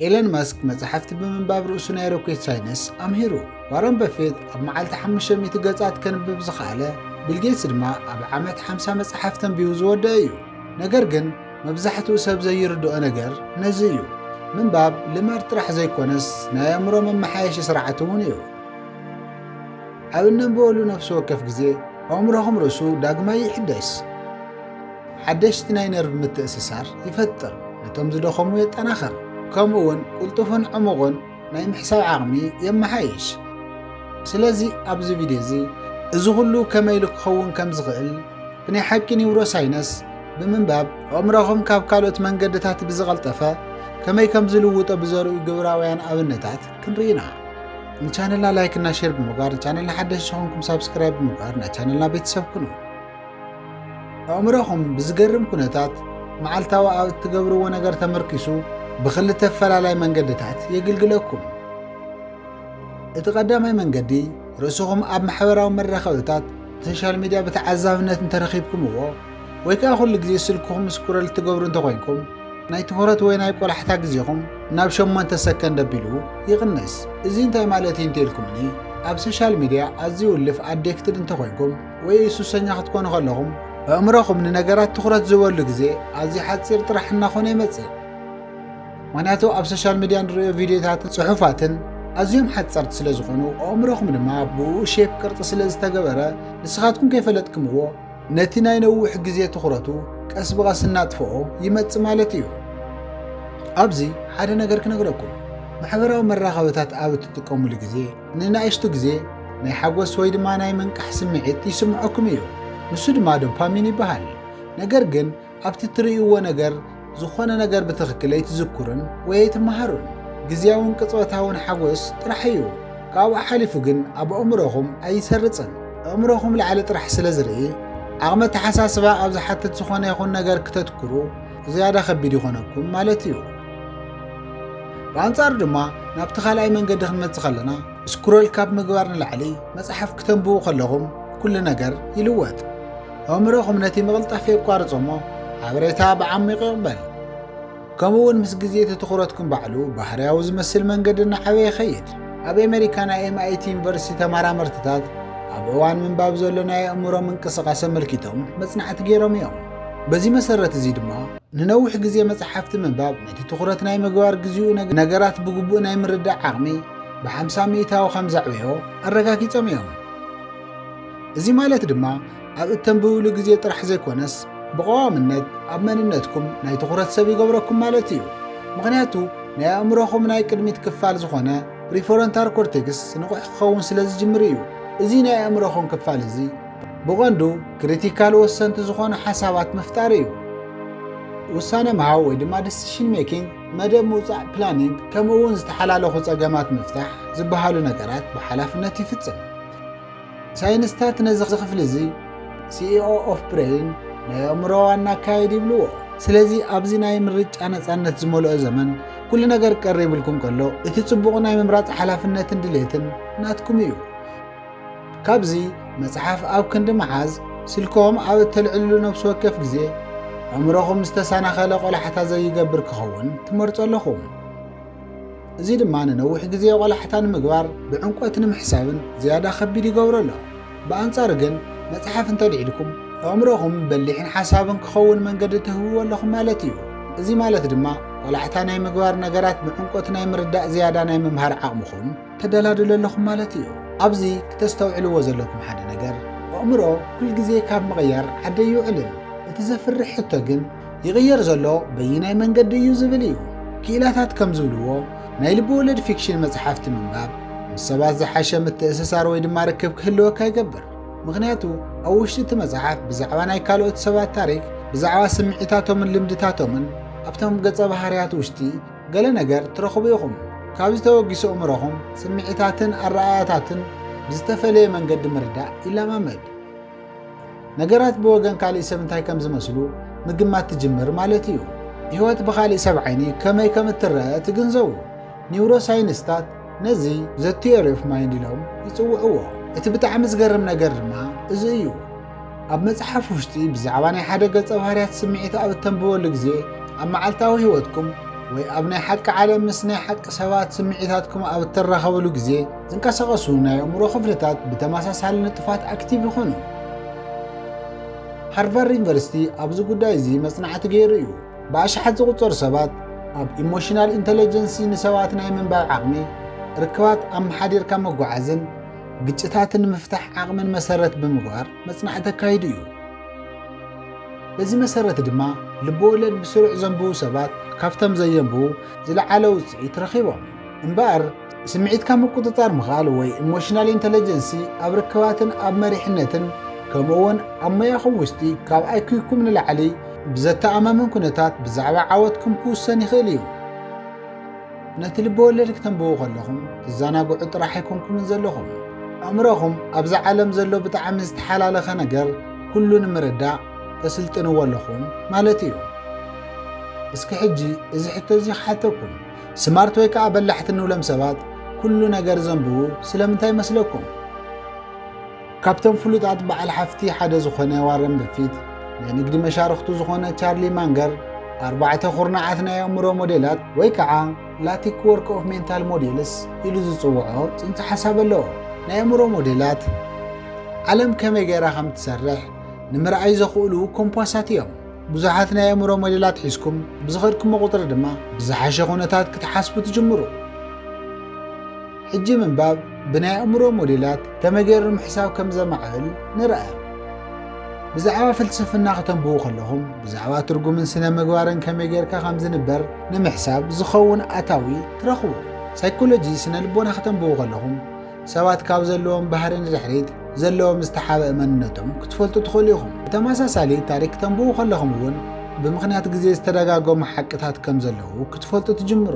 ኤለን መስክ መጻሕፍቲ ብምንባብ ርእሱ ናይ ሮኬት ሳይንስ ኣምሂሩ። ዋረን በፌት ኣብ መዓልቲ ሓሙሽተ ሚእቲ ገጻት ከንብብ ዝኸኣለ፣ ቢል ጌትስ ድማ ኣብ ዓመት ሓምሳ መጻሕፍቲ ኣንቢቡ ዝወደኣ እዩ። ነገር ግን መብዛሕትኡ ሰብ ዘይርድኦ ነገር ነዚ እዩ። ምንባብ ልማድ ጥራሕ ዘይኮነስ ናይ ኣእምሮ መመሓየሺ ስርዓት እውን እዩ። ኣብ እነንብበሉ ነፍሲ ወከፍ ግዜ ኣእምሮኹም ርእሱ ዳግማይ ይሕደስ። ሓደሽቲ ናይ ነርቭ ምትእስሳር ይፈጥር፣ ነቶም ዝደኸሙ የጠናኽር፣ ከምኡውን ቅልጡፍን ዕሙቕን ናይ ምሕሳብ ዓቕሚ የመሓይሽ። ስለዚ ኣብዚ ቪድዮ እዚ እዚ ኹሉ ከመይ ኢሉ ክኸውን ከም ዝኽእል ብናይ ሓቂ ኒውሮሳይነስ ብምንባብ ኣእምሮኹም ካብ ካልኦት መንገድታት ብዝቐልጠፈ ከመይ ከም ዝልውጦ ብዘርእዩ ግብራውያን ኣብነታት ክንርኢ ኢና። ንቻነልና ላይክ እና ሼር ብምግባር ንቻነልና ሓደሽቲ ኾንኩም ሳብስክራይብ ብምግባር ናይ ቻነልና ቤተሰብ ኩኑ። ኣእምሮኹም ብዝገርም ኩነታት መዓልታዊ ኣብ እትገብርዎ ነገር ተመርኪሱ ብኽልተ ፈላላይ መንገድታት የግልግለኩም። እቲ ቀዳማይ መንገዲ ርእስኹም ኣብ ማሕበራዊ መራኸብታት ሶሻል ሚድያ ብተዓዛብነት እንተረኺብኩምዎ ወይ ከዓ ኩሉ ግዜ ስልክኹም ስኩረል ትገብሩ እንተኮይንኩም ናይ ትኹረት ወይ ናይ ቆላሕታ ግዜኹም ናብ ሸሞንተ ሰከንድ ኣቢሉ ይቕንስ እዚ እንታይ ማለት እዩ እንተልኩምኒ ኣብ ሶሻል ሚድያ ኣዝዩ ውልፍ ኣዴክትድ እንተኮይንኩም ወይ ሱሰኛ ክትኮኑ ከለኹም ኣእምሮኹም ንነገራት ትኹረት ዝበሉ ግዜ ኣዝዩ ሓፂር ጥራሕ እናኾነ ይመፅእ ምክንያቱ ኣብ ሶሻል ሚድያ ንሪኦ ቪድዮታትን ፅሑፋትን ኣዝዮም ሓፀርቲ ስለ ዝኾኑ ኣእምሮኹም ድማ ብኡ ሼፕ ቅርፂ ስለ ዝተገበረ ንስኻትኩም ከይፈለጥክምዎ ነቲ ናይ ነዊሕ ግዜ ትኹረቱ ቀስ ብቐስ እናጥፍኦ ይመፅ ማለት እዩ ኣብዚ ሓደ ነገር ክነግረኩም ማሕበራዊ መራኸብታት ኣብ እትጥቀሙሉ ግዜ ንናእሽቱ ግዜ ናይ ሓጎስ ወይ ድማ ናይ ምንቃሕ ስምዒት ይስምዖኩም እዩ፣ ንሱ ድማ ዶፓሚን ይበሃል። ነገር ግን ኣብቲ እትርእይዎ ነገር ዝኾነ ነገር ብትኽክል ኣይትዝኩሩን ወይ ኣይትመሃሩን። ግዝያውን ቅጽበታውን ሓጎስ ጥራሕ እዩ፣ ካብኡ ሓሊፉ ግን ኣብ ኣእምሮኹም ኣይሰርጽን። ኣእምሮኹም ላዕሊ ጥራሕ ስለ ዝርኢ፣ ዓቕሚ ኣተሓሳስባ ኣብ ዝሓትት ዝኾነ ይኹን ነገር ክተትኩሩ፣ ዝያዳ ከቢድ ይኾነኩም ማለት እዩ። ብኣንጻሩ ድማ ናብቲ ካልኣይ መንገዲ ክንመጽእ ከለና ስክሮል ካብ ምግባር ንላዕሊ መጽሓፍ ክተንብቡ ከለኹም ኩሉ ነገር ይልወጥ። ኣእምሮኹም ነቲ ምቕልጣፍ የቋርጾ እሞ ሓበሬታ ብዓሚቕ ይቕበል። ከምኡ እውን ምስ ግዜ እቲ ትኹረትኩም ባዕሉ ባህርያዊ ዝመስል መንገዲ እናዓበየ ይኸይድ። ኣብ ኣሜሪካ ናይ ኤምኣይቲ ዩኒቨርሲቲ ተመራመርትታት ኣብ እዋን ምንባብ ዘሎ ናይ ኣእምሮ ምንቅስቓስ ኣመልኪቶም መጽናዕቲ ገይሮም እዮም። በዚ መሰረት እዚ ድማ ንነዊሕ ግዜ መጽሓፍቲ ምንባብ ነቲ ትኹረት ናይ ምግባር ግዜኡ ነገራት ብግቡእ ናይ ምርዳእ ዓቕሚ ብሓምሳ ሚእታዊ ከም ዘዕበዮ ኣረጋጊጾም እዮም እዚ ማለት ድማ ኣብ እተንብብሉ ግዜ ጥራሕ ዘይኮነስ ብቐዋምነት ኣብ መንነትኩም ናይ ትኹረት ሰብ ይገብረኩም ማለት እዩ ምክንያቱ ናይ ኣእምሮኹም ናይ ቅድሚት ክፋል ዝኾነ ፕሪፎረንታር ኮርቴክስ ንቑሕ ክኸውን ስለ ዝጅምር እዩ እዚ ናይ ኣእምሮኹም ክፋል እዚ ብቐንዱ ክሪቲካል ወሰንቲ ዝኾኑ ሓሳባት ምፍጣር እዩ። ውሳነ ምሃብ ወይ ድማ ዲሲሽን ሜኪንግ፣ መደብ ምውፃእ ፕላኒንግ፣ ከምኡ እውን ዝተሓላለኹ ፀገማት ምፍታሕ ዝበሃሉ ነገራት ብሓላፍነት ይፍፅም። ሳይንስታት ነዚ ክፍሊ እዚ ሲኢኦ ኦፍ ብሬን ናይ ኣእምሮ ዋና ኣካየድ ይብልዎ። ስለዚ ኣብዚ ናይ ምርጫ ነፃነት ዝመልኦ ዘመን ኩሉ ነገር ቀሪብልኩም ከሎ እቲ ፅቡቕ ናይ ምምራፅ ሓላፍነትን ድሌትን ናትኩም እዩ። ካብዚ መጽሓፍ ኣብ ክንዲ ምሓዝ ስልክኹም ኣብ እተልዕልሉ ነፍሲ ወከፍ ግዜ ኣእምሮኹም ዝተሰናኸለ ቆላሕታ ዘይገብር ክኸውን ትመርጾ ኣለኹም። እዚ ድማ ንነዊሕ ግዜ ቆላሕታ ንምግባር ብዕምቆት ንምሕሳብን ዝያዳ ከቢድ ይገብሮ ኣሎ። ብኣንጻሩ ግን መጽሓፍ እንተልዒልኩም ኣእምሮኹም በሊሕን ሓሳብን ክኸውን መንገዲ ትህብዎ ኣለኹም ማለት እዩ። እዚ ማለት ድማ ቆላሕታ ናይ ምግባር ነገራት ብዕምቆት ናይ ምርዳእ ዝያዳ ናይ ምምሃር ዓቕምኹም ተደላድሉ ኣለኹም ማለት እዩ። ኣብዚ ክተስተውዕልዎ ዘለኩም ሓደ ነገር ኣእምሮ ኩል ግዜ ካብ ምቕያር ዓዲ ኣይውዕልን። እቲ ዘፍርሕ ሕቶ ግን ይቕየር ዘሎ በይናይ መንገዲ እዩ ዝብል እዩ። ክኢላታት ከም ዝብልዎ ናይ ልብወለድ ፊክሽን መጽሓፍቲ ምንባብ ምስ ሰባት ዝሓሸ ምትእስሳር ወይ ድማ ርክብ ክህልወካ ይገብር። ምኽንያቱ ኣብ ውሽጢ እቲ መጽሓፍ ብዛዕባ ናይ ካልኦት ሰባት ታሪክ፣ ብዛዕባ ስምዒታቶምን ልምድታቶምን ኣብቶም ገጸ ባህርያት ውሽጢ ገለ ነገር ትረኽቡ ኢኹም። ካብዚ ተበጊሶ ኣእምሮኹም ስምዒታትን ኣረኣእያታትን ብዝተፈለየ መንገዲ ምርዳእ ይለማመድ። ነገራት ብወገን ካልእ ሰብ እንታይ ከም ዝመስሉ ምግማት ትጅምር ማለት እዩ። ህይወት ብኻልእ ሰብ ዓይኒ ከመይ ከም እትረኣ ትግንዘቡ። ኒውሮሳይንስታት ነዚ ዘ ቲዮሪ ኦፍ ማይንድ ኢሎም ይጽውዕዎ። እቲ ብጣዕሚ ዝገርም ነገር ድማ እዚ እዩ። ኣብ መጽሓፍ ውሽጢ ብዛዕባ ናይ ሓደ ገጸ ባህርያት ስምዒት ኣብ እተንብበሉ ግዜ ኣብ መዓልታዊ ህይወትኩም ወይ ኣብ ናይ ሓቂ ዓለም ምስ ናይ ሓቂ ሰባት ስምዒታትኩም ኣብ እትራኸብሉ ግዜ ዝንቀሳቐሱ ናይ ኣእምሮ ክፍልታት ብተመሳሳሊ ንጡፋት ኣክቲቭ ይኹኑ። ሃርቫርድ ዩኒቨርሲቲ ኣብዚ ጉዳይ እዚ መጽናዕቲ ገይሩ እዩ። ብኣሽሓት ዝቝጸሩ ሰባት ኣብ ኢሞሽናል ኢንተለጀንሲ ንሰባት ናይ ምንባብ ዓቕሚ፣ ርክባት ኣመሓዲርካ ምጕዓዝን ግጭታት ንምፍታሕ ዓቕምን መሰረት ብምግባር መጽናዕቲ ኣካይዱ እዩ። በዚ መሰረት ድማ ልብወለድ ብስሩዕ ዘንብቡ ሰባት ካብቶም ዘየንብቡ ዝለዓለ ውፅኢት ረኺቦም። እምበኣር ስምዒትካ ምቁፅፃር ምኽኣል ወይ ኢሞሽናል ኢንተለጀንሲ ኣብ ርክባትን ኣብ መሪሕነትን ከምኡ እውን ኣብ ሞያኹም ውሽጢ ካብ ኣይኩይኩም ንላዕሊ ብዘተኣማምን ኩነታት ብዛዕባ ዓወትኩም ክውሰን ይኽእል እዩ። ነቲ ልበወለድ ክተንብቡ ከለኹም ትዘናግዑ ጥራሕ ኣይኮንኩምን ዘለኹም። ኣእምሮኹም ኣብዚ ዓለም ዘሎ ብጣዕሚ ዝተሓላለኸ ነገር ኩሉ ንምርዳእ ተስልጥንዎ ኣለኹም ማለት እዩ። እስኪ ሕጂ እዚ ሕቶ እዚ ክሓተኩም፣ ስማርት ወይ ከዓ በላሕቲ ንብሎም ሰባት ኩሉ ነገር ዘንብቡ ስለምንታይ ይመስለኩም? ካብቶም ፍሉጣት በዓል ሓፍቲ ሓደ ዝኾነ ዋረን በፊት፣ ናይ ንግዲ መሻርኽቱ ዝኾነ ቻርሊ ማንገር፣ ኣርባዕተ ኩርናዓት ናይ ኣእምሮ ሞዴላት ወይ ከዓ ላቲክ ወርክ ኦፍ ሜንታል ሞዴልስ ኢሉ ዝፅውዖ ፅንሰ ሓሳብ ኣለዎ። ናይ ኣእምሮ ሞዴላት ዓለም ከመይ ገይራ ከም እትሰርሕ ንምርኣይ ዘኽእሉ ኮምፓሳት እዮም። ብዙሓት ናይ ኣእምሮ ሞዴላት ሒዝኩም ብዝኸድኩሞ ቁፅሪ ድማ ብዝሓሸ ኩነታት ክትሓስቡ ትጅምሩ። ሕጂ ምንባብ ብናይ ኣእምሮ ሞዴላት ከመይ ገይሩ ምሕሳብ ከም ዘማዕብል ንርኣዮም። ብዛዕባ ፍልስፍና ከተንብቡ ከለኹም ብዛዕባ ትርጉምን ስነ ምግባርን ከመይ ጌርካ ከም ዝንበር ንምሕሳብ ዝኸውን ኣታዊ ትረኽቡ። ሳይኮሎጂ ስነ ልቦና ከተንብቡ ከለኹም ሰባት ካብ ዘለዎም ባህሪ ንድሕሪት ዘለዎም ዝተሓበእ መንነቶም ክትፈልጡ ትኽእሉ ኢኹም። ብተመሳሳሊ ታሪክ ተንብቡ ከለኹም እውን ብምኽንያት ግዜ ዝተደጋገሙ ሓቅታት ከም ዘለዉ ክትፈልጡ ትጅምሩ።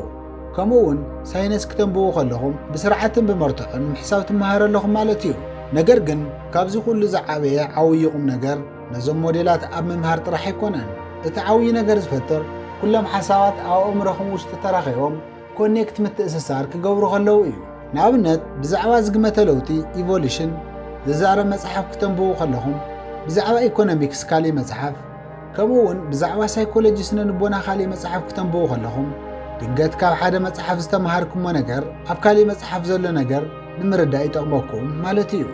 ከምኡ እውን ሳይነስ ክተንብቡ ከለኹም ብስርዓትን ብመርትዖን ምሕሳብ ትመሃሩ ኣለኹም ማለት እዩ። ነገር ግን ካብዚ ኩሉ ዝዓበየ ዓውዪ ቁም ነገር ነዞም ሞዴላት ኣብ ምምሃር ጥራሕ ኣይኮነን። እቲ ዓውዪ ነገር ዝፈጥር ኩሎም ሓሳባት ኣብ ኣእምሮኹም ውሽጢ ተራኺቦም ኮኔክት ምትእስሳር ክገብሩ ከለዉ እዩ። ንኣብነት ብዛዕባ ዝግመተ ለውጢ ኢቮሉሽን ዝዛረብ መፅሓፍ ክተንብቡ ከለኹም ብዛዕባ ኢኮኖሚክስ ካሊእ መፅሓፍ ከምኡ'ውን ብዛዕባ ሳይኮሎጂ ስነ-ልቦና ካልእ መጽሓፍ ክተንብቡ ከለኹም፣ ድንገት ካብ ሓደ መጽሓፍ ዝተመሃርኩሞ ነገር ኣብ ካልእ መጽሓፍ ዘሎ ነገር ንምርዳእ ይጠቕመኩም ማለት እዩ።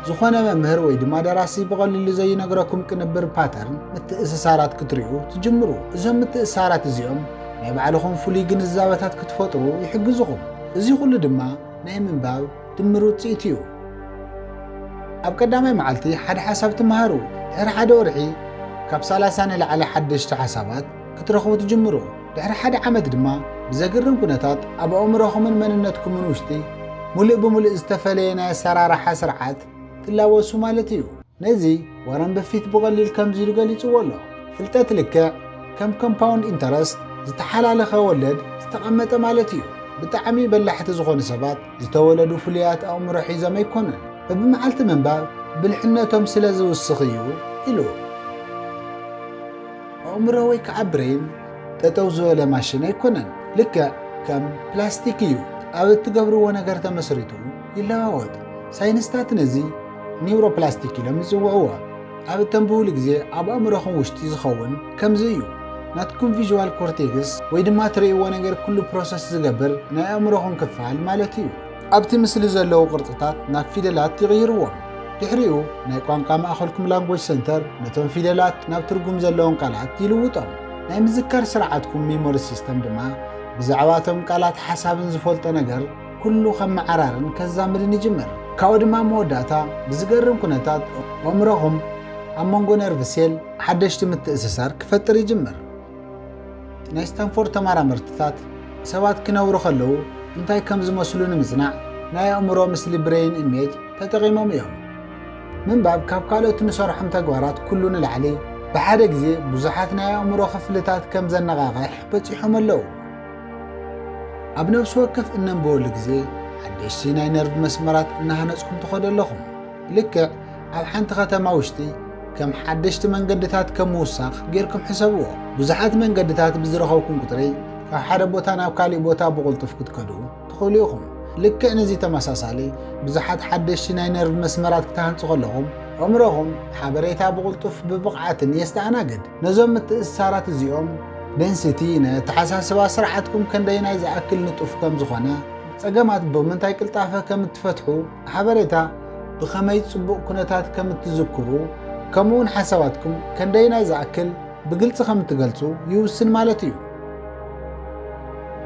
ዝኾነ መምህር ወይ ድማ ደራሲ ብቐሊሉ ዘይነግረኩም ቅንብር፣ ፓተርን፣ ምትእስሳራት ክትሪኡ ትጅምሩ። እዞም ምትእስሳራት እዚኦም ናይ ባዕልኹም ፍሉይ ግንዛበታት ክትፈጥሩ ይሕግዙኹም። እዚ ኩሉ ድማ ናይ ምንባብ፣ ድምር ውጽኢት እዩ። ኣብ ቀዳማይ መዓልቲ ሓደ ሓሳብ ትመሃሩ፣ ድሕሪ ሓደ ወርሒ ካብ ሰላሳ ንላዕሊ ሓደሽቲ ሓሳባት ክትረኽቡ ትጅምሩ፣ ድሕሪ ሓደ ዓመት ድማ ብዘግርም ኩነታት ኣብ ኣእምሮኹምን መንነትኩምን ውሽጢ ሙሉእ ብሙሉእ ዝተፈለየ ናይ ኣሰራርሓ ስርዓት ትላበሱ ማለት እዩ። ነዚ ዋረን በፊት ብቐሊል ከምዚ ኢሉ ገሊጽዎ ኣሎ፣ ፍልጠት ልክዕ ከም ኮምፓውንድ ኢንተረስት፣ ዝተሓላለኸ ወለድ፣ ዝተቐመጠ ማለት እዩ። ብጣዕሚ በላሕቲ ዝኾኑ ሰባት ዝተወለዱ ፍሉያት ኣእምሮ ሒዞም ኣይኮኑን፣ በብመዓልቲ ምንባብ ብልሕነቶም ስለ ዝውስኽ እዩ ኢሉ። ኣእምሮ ወይ ከዓ ብሬን ጠጠው ዝበለ ማሽን ኣይኮነን፣ ልክዕ ከም ፕላስቲክ እዩ፣ ኣብ እትገብርዎ ነገር ተመስሪቱ ይለዋወጥ። ሳይንስታት ነዚ ኒውሮፕላስቲክ ኢሎም ይፅውዕዎ። ኣብ እተንብቡሉ ግዜ ኣብ ኣእምሮኹም ውሽጢ ዝኸውን ከምዚ እዩ። ናትኩም ቪዥዋል ኮርቴክስ ወይ ድማ ትርእይዎ ነገር ኩሉ ፕሮሰስ ዝገብር ናይ ኣእምሮኹም ክፋል ማለት እዩ። ኣብቲ ምስሊ ዘለዉ ቅርጽታት ናብ ፊደላት ይቕይርዎም። ድሕሪኡ ናይ ቋንቋ ማእኸልኩም ላንጎጅ ሰንተር ነቶም ፊደላት ናብ ትርጉም ዘለዎም ቃላት ይልውጦም። ናይ ምዝካር ስርዓትኩም ሚሞሪ ሲስተም ድማ ብዛዕባ እቶም ቃላት ሓሳብን ዝፈልጦ ነገር፣ ኩሉ ከመዓራርን ከዛምድን ይጅምር። ካብኡ ድማ ኣብ መወዳእታ ብዝገርም ኩነታት ኦእምሮኹም ኣብ መንጎ ነርቭ ሴል ሓደሽቲ ምትእስሳር ክፈጥር ይጅምር። ናይ ስታንፎርድ ተማራመርትታት ሰባት ክነብሩ ከለዉ እንታይ ከም ዝመስሉ ንምጽናዕ ናይ ኣእምሮ ምስሊ ብረይን ኢሜጅ ተጠቒሞም እዮም። ምንባብ ካብ ካልኦት ንሰርሖም ተግባራት ኩሉ ንላዕሊ ብሓደ ግዜ ብዙሓት ናይ ኣእምሮ ክፍልታት ከም ዘነቓቕሕ በጺሖም ኣለዉ። ኣብ ነብሲ ወከፍ እነንብበሉ ግዜ ሓደሽቲ ናይ ነርቭ መስመራት እናሃነጽኩም ትኸዱ ኣለኹም። ልክዕ ኣብ ሓንቲ ከተማ ውሽጢ ከም ሓደሽቲ መንገድታት ከም ምውሳኽ ጌርኩም ሕሰብዎ። ብዙሓት መንገድታት ብዝረኸብኩም ቁጽሪ ካብ ሓደ ቦታ ናብ ካሊእ ቦታ ብቕልጡፍ ክትከዱ ትኽእሉ ኢኹም። ልክዕ ንዚ ተመሳሳሊ ብዙሓት ሓደሽቲ ናይ ነርቭ መስመራት ክትሃንጹ ከለኹም፣ ኣእምሮኹም ሓበሬታ ብቕልጡፍ ብብቕዓትን የስተኣናግድ። ነዞም ምትእስሳራት እዚኦም፣ ደንሲቲ፣ ን ኣተሓሳስባ ስርዓትኩም ከንደየናይ ዝኣክል ንጡፍ ከም ዝኾነ፣ ጸገማት ብምንታይ ቅልጣፈ ከም እትፈትሑ፣ ሓበሬታ ብኸመይ ጽቡቕ ኩነታት ከም እትዝክሩ፣ ከምኡውን ሓሳባትኩም ከንደየናይ ዝኣክል ብግልጺ ከም እትገልጹ ይውስን ማለት እዩ።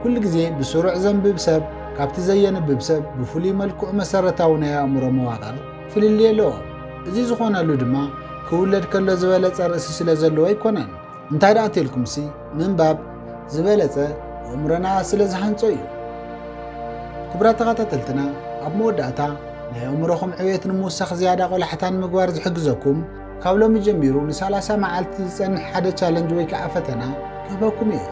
ኩሉ ግዜ ብስሩዕ ዘንብብ ሰብ ካብቲ ዘየንብብ ሰብ ብፍሉይ መልክዑ መሰረታዊ ናይ ኣእምሮ መዋቕር፣ ፍልልይ ኣለዎም። እዚ ዝኾነሉ ድማ ክውለድ ከሎ ዝበለጸ ርእሲ ስለ ዘለዎ ኣይኮነን። እንታይ ደኣ እንተልኩምሲ ምንባብ ዝበለጸ ኣእምሮና ስለ ዝሃንጾ እዩ። ክቡራት ተኸታተልትና ኣብ መወዳእታ ናይ ኣእምሮኹም ዕብየት ንምውሳኽ ዝያዳ ቆላሕታ ንምግባር ዝሕግዘኩም ካብ ሎሚ ጀሚሩ ንሳላሳ መዓልቲ ዝጸንሕ ሓደ ቻለንጅ ወይ ከዓ ፈተና ክህበኩም እየ።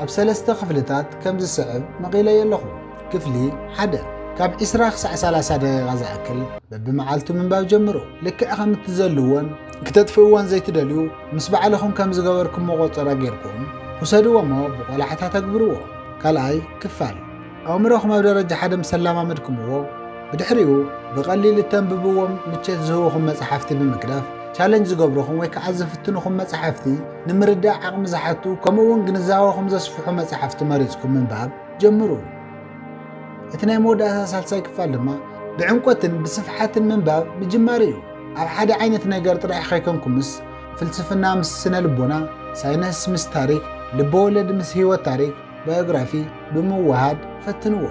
ኣብ ሰለስተ ክፍልታት ከም ዝስዕብ መቒለዮ ኣለኹ። ክፍሊ ሓደ ካብ ዕስራ ክሳዕ ሰላሳ ደቂቓ ዝኣክል በብመዓልቱ ምንባብ ጀምሩ። ልክዕ ከም እትዘልዎን ክተጥፍእዎን ዘይትደልዩ ምስ ባዕልኹም ከም ዝገበርኩም መቖጸራ ጌርኩም ውሰድዎሞ ብቆላሕታ ተግብርዎ። ካልኣይ ክፋል ኣእምሮኹም ኣብ ደረጃ ሓደ ምስ ኣላማመድኩምዎ ብድሕሪኡ ብቐሊል እተንብብዎም ምቸት ዝህቡኹም መጽሓፍቲ ብምግዳፍ ቻለንጅ ዝገብሩኹም ወይ ከዓ ዝፍትኑኹም መጽሓፍቲ ንምርዳእ ዓቕሚ ዝሓቱ ከምኡውን ግንዛበኹም ዘስፍሑ መጽሓፍቲ መሪጽኩም ምንባብ ጀምሩ። እቲ ናይ መወዳእታ ሳልሳይ ክፋል ድማ ብዕምቆትን ብስፍሓትን ምንባብ ምጅማር እዩ። ኣብ ሓደ ዓይነት ነገር ጥራሕ ከይኮንኩምስ ፍልስፍና ምስ ስነ ልቦና፣ ሳይነስ ምስ ታሪክ፣ ልበወለድ ምስ ህይወት ታሪክ፣ ባዮግራፊ፣ ብምውህሃድ ፈትንዎ።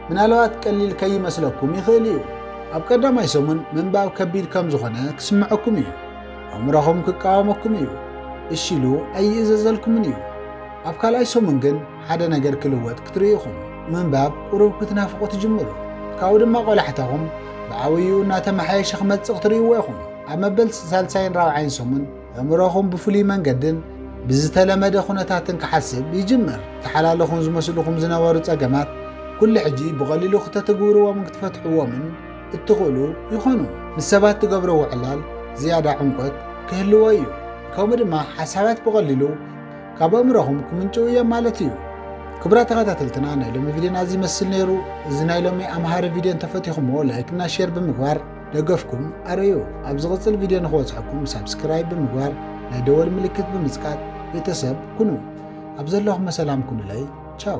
ምናልባት ቀሊል ከይመስለኩም ይኽእል እዩ። ኣብ ቀዳማይ ሰሙን ምንባብ ከቢድ ከም ዝኾነ ክስምዐኩም እዩ። ኣእምሮኹም ክቃወመኩም እዩ። እሺ ኢሉ ኣይእዘዘልኩምን እዩ። ኣብ ካልኣይ ሰሙን ግን ሓደ ነገር ክልወጥ ክትርእዩ ኢኹም። ምንባብ ቁሩብ ክትናፍቑ ትጅምሩ። ካብኡ ድማ ቆላሕታኹም ብዓብይኡ እናተመሓየሸ ክመጽእ ክትርእይዎ ኢኹም። ኣብ መበል ሳልሳይን ራብዓይን ሰሙን ኣእምሮኹም ብፍሉይ መንገድን ብዝተለመደ ኩነታትን ክሓስብ ይጅምር። ዝተሓላለኹን ዝመስሉኹም ዝነበሩ ጸገማት ኩሉ ሕጂ ብቐሊሉ ክተትግብርዎምን ክትፈትሕዎምን እትኽእሉ ይኾኑ። ምስ ሰባት ትገብርዎ ዕላል ዝያዳ ዕምቆት ክህልዎ እዩ። ከምኡ ድማ ሓሳባት ብቐሊሉ ካብ ኣእምሮኹም ክምንጭው እየም ማለት እዩ። ክብራት ተኸታተልትና ናይ ሎሚ ቪድዮና እዚ ይመስል ነይሩ። እዚ ናይ ሎሚ ኣምሃሪ ቪድዮ እንተፈቲኹሞ ላይክና ሼር ብምግባር ደገፍኩም ኣረዩ። ኣብ ዝቕፅል ቪድዮ ንክበፅሐኩም ሳብስክራይብ ብምግባር ናይ ደወል ምልክት ብምፅቃጥ ቤተሰብ ኩኑ። ኣብ ዘለኹም ሰላም ኩኑለይ ቻው።